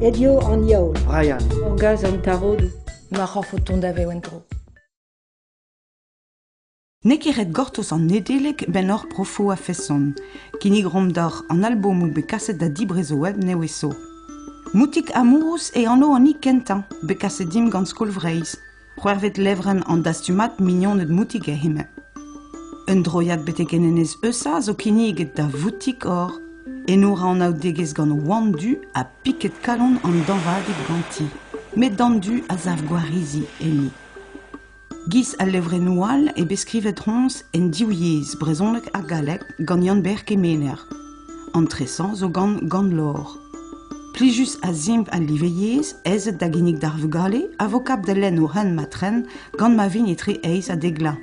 Aet eo an yaol. Brian. Orgaz an tarodoù. Ma c'horf o tont da vev en-dro. N'eo ket ret gortoz an Nedeleg 'benn hor profoù a-feson. Kinnigromp doc'h an albomoù bet kaset da dibrez o web neveso. Moutik Amourous eo anv an hini kentañ bet kaset dimp gant Skol Vreizh. c'hwec'hvet levrenn an dastumad Mignoned Moutig ha Hemañ. Un droiad betek en enez Eusa zo kinniget da Voutik-Or. Eno ra anaoudegezh gant Oan Du ha piked-kalon an dañvadeg ganti, met d'an du a sav gwarizi enni. Giz al levrennoù all eo bet skrivet roñs en div yezh, brezhoneg ha galleg, gant Yann-Ber Kemener. An tresañ zo gant gant-lor. Plijus a-zimpl al live yezh aezet da ginnig d'ar vugale a vo kap da lenn o c'hent-ma-tren gant ma vint etre eizh ha dek vloaz.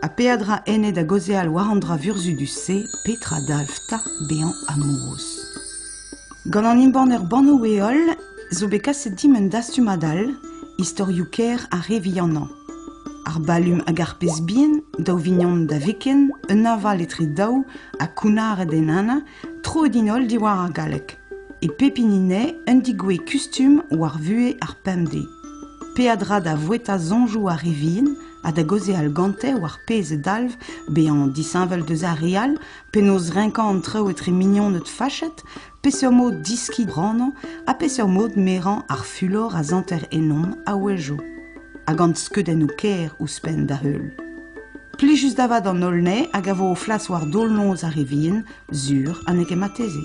Ha peadra enne da gaozeal war an dra vurzhudus-se petra dalv 'ta bezañ amourous. Gant an embanner Bannoù-heol zo bet kaset dimp un dastumad all, istorioù-kaer ha re vihanañ. Ar balum hag ar pezh-bihan, daou vignon da viken, un aval etre daou ha kounnaret en Ana, troet int holl diwar ar galleg. E pep hini anezhe un digouezh kustum war vuhez ar pemdez. Peadra da voueta soñjoù ar re vihan ha da gaozeal gante war pezh a dalv bezañ disheñvel deus ar re all, penaos renkañ an traoù etre mignoned fachet, Peseurt mod deskiñ branañ ha peseurt mod merañ ar fulor a santer ennomp a-wezhioù ha gant skeudennoù kaer ouzhpenn da-heul. Plijus da vat an holl anezhe hag a vo o flas war daol-noz ar re vihan, sur ha n'eo ket marteze.